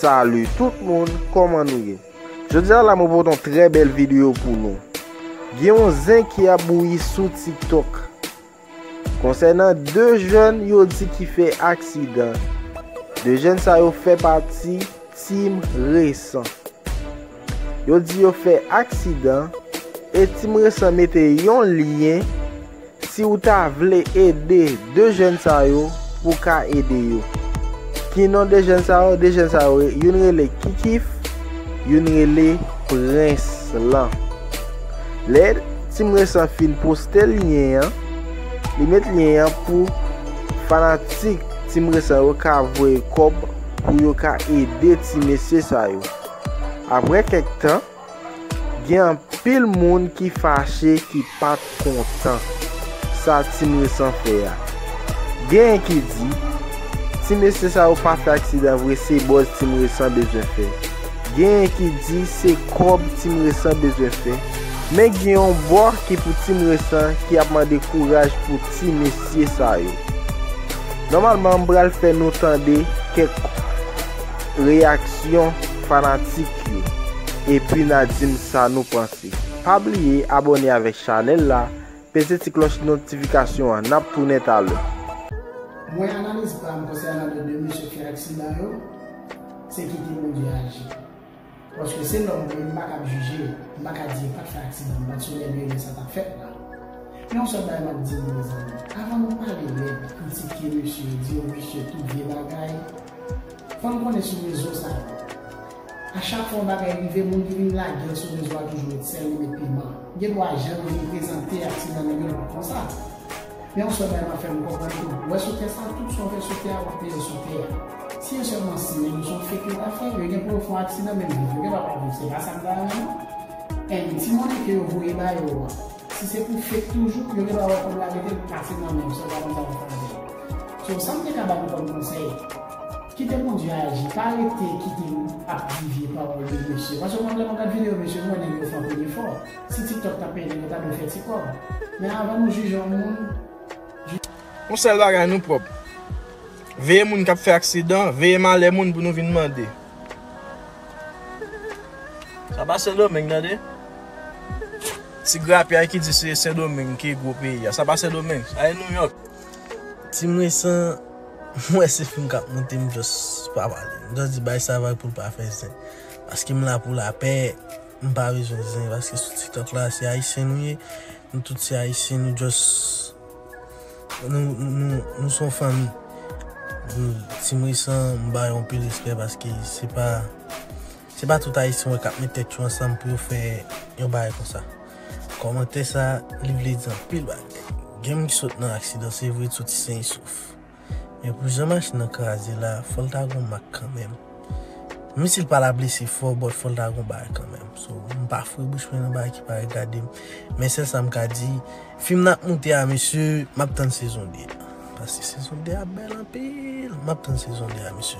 Salut tout moun koman nou ye Jodia la mwen pote yon trè bèl video pou nou Gen yon zen ki ap bouyi sou tiktok Konsènan 2 jèn yo di ki fè aksidan 2 jèn sa yo fè pati team resan Yo di yo fè aksidan e Team Resan mete yon lyen si ou ta vle ede 2 jèn sa yo pou w ka ede yo. Ki non 2 jèn sa yo? 2 jèn sa yo youn rele Kikif, youn rele Prens lan. Lè Team Resan fin poste lyen an, li met lyen an pou fanatik Team Resan yo ka voye kòb pou yo ka ede ti mesye sa yo. Aprè kèk tan, gen anpil moun ki fache ki pa t kontan sa Team Resan fè a. Genyen ki di, ti mesye sa yo pa fè aksidan vre se buzz Team Resan bezwen fè. Genyen ki di se kòb Team Resan bezwen fè. Men gen yon bò ki pou Team Resan ki ap mande kouraj pou ti mesye sa yo. Nòmalman m pral fè nou tande kèk. Reyaksyon fanatik yo epi na dim sa nou panse. Pa bliye abone avek chanel la, peze ti kloch notifikasyon an nap tounen talè. Mwen analiz pam konsènan 2 mesye fè aksidan yo, se kite Bondye aji. Paske se lòm mwen ye m pa kab jije, m pa ka di yo pat fè aksidan, m pat sou lè lye lè sa tap fèt la. Men yon sèl bagay map di nou mezanmi, avan nou pale lèd, kritike mesye yo, di yo visye tout vye bagay, fòn konnen sou rezo sa yo, a chak fwa yon bagay rive moun ki vin lagel sou rezo a toujou met sèl li met piman, gen dwa jan nou vin prezante aksidan nou gen dwa konsa. Men yon sèl bagay map fè nou konprann tou, wè sou tè sa tout sa ou fè sou tè a wap peye l sou tè a. Si e sèlman simen nou son fake yo ta fè, yo gen pou yo fè yon aksidan menm viv yo gen dwa pa viv se pa sa m ta renmen non. Anh ti monnen ke yo voye ba yo an si se pou fake toujou yo gen dwa wè kob la rete l pase nan men yo se pa konsa yo ta fè. So sa m te ka ba nou kòm konsèy kite Bondye aji pa rete kite yo ap divye pawòl yo mesye paske mwen vle mwen gad video mesye m wè nèg yo fanpe defò. Si tiktok ta peye nou ta dwe fè ti kòb men avan nou jije yon moun jije Yon sèl bagay nou pwòp. Veye moun kap fè aksidan, veye malè moun pou nou vin mande. Sa pa sendomeng tande. Ti grapyay ki di se sendomeng ki gwo peyi a. Sa pa sendomeng. Sa e nouyòk. Team resan m wè se film kap moute m just pa pale. M just di bay sa vag poul pa fè zen. Paske m la pou lapè. M pa bezwen zen paske sou tiktok la se ayisyen nou ye nou tout se ayisyen nou just nou son fanmi team resan m ba yo anpil respè paske se pa se pa tout ayisyen w wè kap met tèt yo ansanm pou yo fè yon bagay konsa kòmantè sa li vle di anpil bagay gen moun ki sot nan aksidan se vre t soti sen isouf. Men pou jan machin nan kraze la fòl ta gon mak kanmenm. Menm sil pala blese fò but fòl ta gon bagay kanmenm. So m pa foure bouch mwen nan bagay ki pa regadem. Men sèl sam ka di fim nan ap moute a mesye map tann sezon 2 a. Paske sezon 2 a bèl anpil map tann sezon 2 a mesye.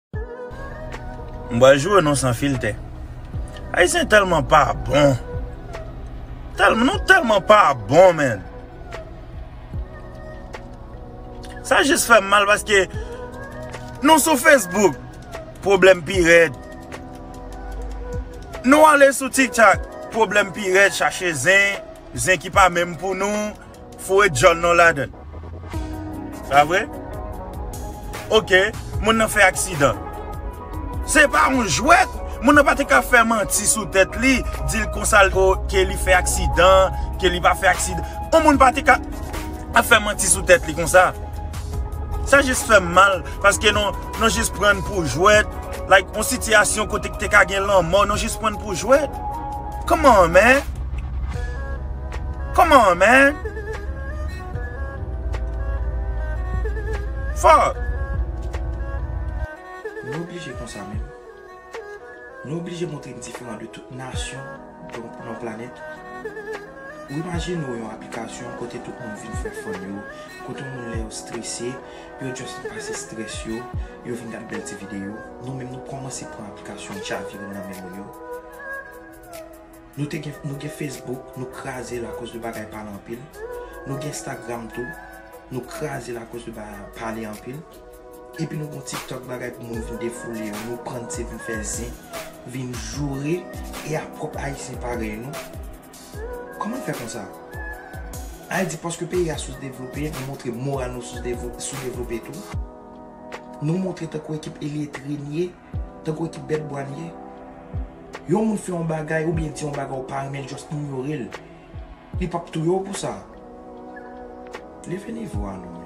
M pral joure nou san filtè. Ayisyen telman pa bon. Telman nou telman pa bon men. Sa jis fèm mal paske nou sou Facebook pwoblèm pi rèd. Nou ale sou TikTok pwoblèm pi rèd chache zen, zen ki pa menm pou nou. Foure djol nou ladann. Sa vre? Ok, moun nan fè aksidan. Se pa yon jwèt! Moun nan pa te ka fè manti sou tèt li, di l konsa l ke li fè aksidan, ke li pa fè aksidan. Yon moun pa te ka ap fè manti sou tèt li konsa. Sa jis fè m mal, paske nou, nou jis pran l pou jwèt. Like, yon sitiyasyon kote ki te ka gen lanmò, nou jis pran l pou jwèt. Come on man! Come on man Fuck. Nou oblije konsa menm. Nou oblije montre n diferan de tout nasyon nan planèt. Ou imajine w yon aplikasyon kote tout moun vin fè fun yo, kote moun lè yo strese, yo just vin pase stress yo, yo vin gad bèl ti videyo. Nou menm nou kòmanse pran aplikasyon chavire nan men moun yo. Nou te gen nou gen Facebook nou kraze l akoz de bagay pale anpil nou gen Instagram tou nou kraze l akoz de bagay pale anpil epi nou gen yon TikTok bagay pou moun vin defoule yo nou pran se vin fè zen vin joure e a pwòp ayisyen parèy nou kòman n fè konsa al di paske peyi a sou devlope nou montre moral nou sou devlope tou nou montre tankou ekip iletre n ye. Tankou ekip bèt bwa n ye. Yon moun fè yon bagay oubyen di yon bagay ou pa renmen l just inyore l. Li pap touye w pou sa. Leve nivo a nou menm.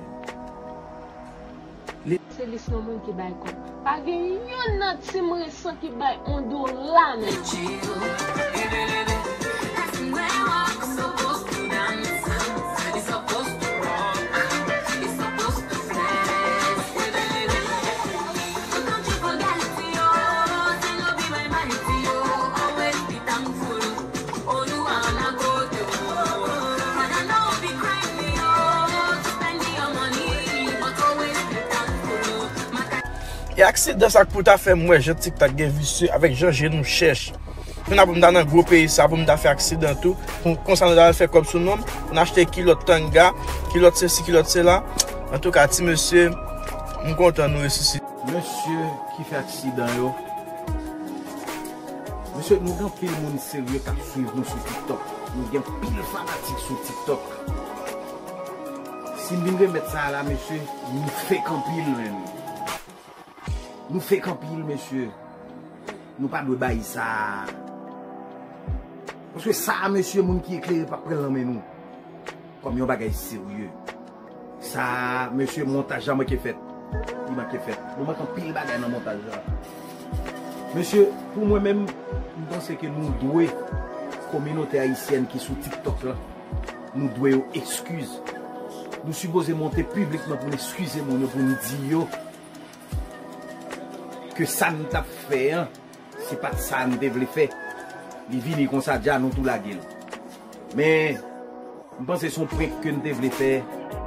Se lis yon moun ki bay kòb. Pa gen youn nan team resan ki bay on dola nan yo. E aksidan sa k pou ta fè m wè jan tiktak gen visye avèk jan je nou chèch. Fen apre m ta nan gwo peyi sa pou m ta fè aksidan tou. Konsa nou ta al fè kòb sou non m. N achte kilòt tanga, kilòt sesi, kilòt sela. Antouka ti mesye. M kontan nou resisite. Mesye ki fè aksidan yo. Mesye nou gen pil moun serye kap swiv nou sou tiktok. Nou gen pil fanatik sou tiktok. Sim vin remet sa a la mesye nou fek anpil menn. Nou fek anpil mesye. Nou pa dwe bay sa a. Paske sa a mesye moun ki eklere pap pran l nan men nou. Kom yon bagay serye. Sa mesye montaj la manke fèt. Li manke fèt. Nou manke anpil bagay nan montaj la. Mesye pou mwen menm m panse ke nou dwe kominote ayisyèn ki sou tiktok la nou dwe yo ekskiz. Nou sipoze monte piblikman pou n ekskize moun yo pou n di yo ke sa n tap fè an Se pat sa m te vle fè. Li vini konsa dja nou tou lage l. Men m panse son prank ke n te vle fè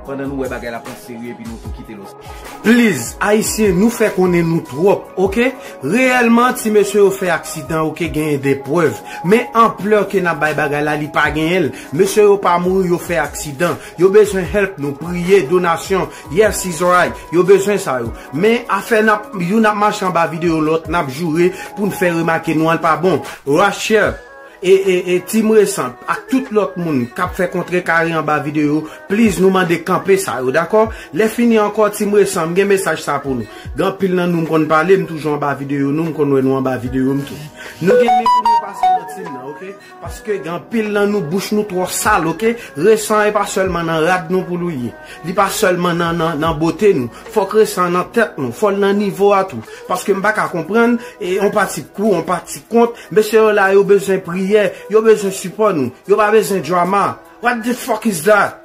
pandan nou wè bagay la pran serye epi nou tou kite l ok. Please ayisyen nou fè konnen nou twòp ok reyèlman ti mesye yo fè aksidan ok genyen de prèv men anplè ke nap bay bagay la li pa genyen l mesye yo pa mouri yo fè aksidan yo bezwen help nou priye donasyon Yes is alright yo bezwen sa yo men afè nap youn ap mache anba video lòt nap joure poun fè remake nou an pa bon Rachel e team resan ak tout lòt moun kap fè kontre kare anba video please nou mande kanpe sa yo dakò lè fini ankò team resan m gen mesaj sa pou nou gen anpil nan nou m konn pale m toujou anba video nou m konn wè nou anba video m tou nou gen men pou nou pase nan team nan ok. Paske gen anpil nan nou bouch nou twò sal ok, resan e pa sèlman nan rad nou poul ye, li pa sèlman nan nan nan bote nou, fòk resan an nan tèt nou, fòl nan nivo a tou, paske m paka konprann e on pati kou, on pati kont, mesye yo la yo bezwen priyè, yo bezwen sipò nou, yo pa bezwen drama, what the fuck is that?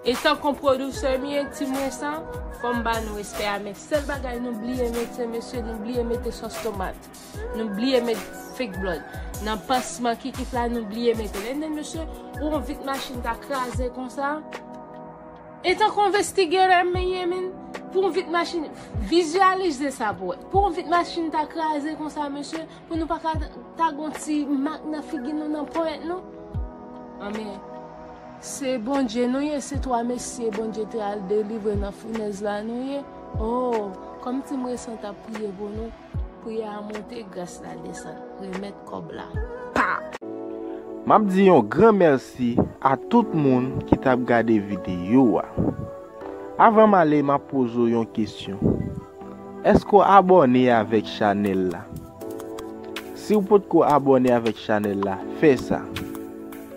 Etan kon producer m ye team resa fòm ba nou respè a men sèl bagay nou bliye mete mesye nou bliye mete sòs tomat nou bliye met fake blood nan pansman kikit la nou bliye metel and then mesye ou on vit machin ta kraze konsa etan kon vestigerè m ye min pou on vit machin vizyalize sa pou wè pou on vit machin ta kraze konsa mesye. Pou nou paka ta gon ti mak nan figi nou nan ponyèt nou anmyee se Bondye nou ye se 3 mesye Bondye te al delivre nan founèz la nou ye ooh kòmsi m resi an tap priye pou nou priyè a monte gras la desann remèt kòb la pa. Map di yon gran mèsi a tout moun ki tap gade video a. Avan m ale map poze w yon kesyon Èske w abòne avèk chanèl la? Si w potko abòne avèk chanèl la, fè sa!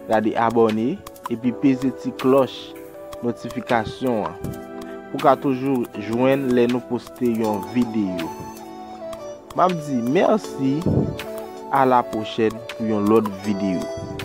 Gade Abòne epi peze ti klòch notifikasyon an pou w ka toujou jwenn lè nou poste yon videyo. M ap di mèsi! Alapwochèn pou yon lòt videyo.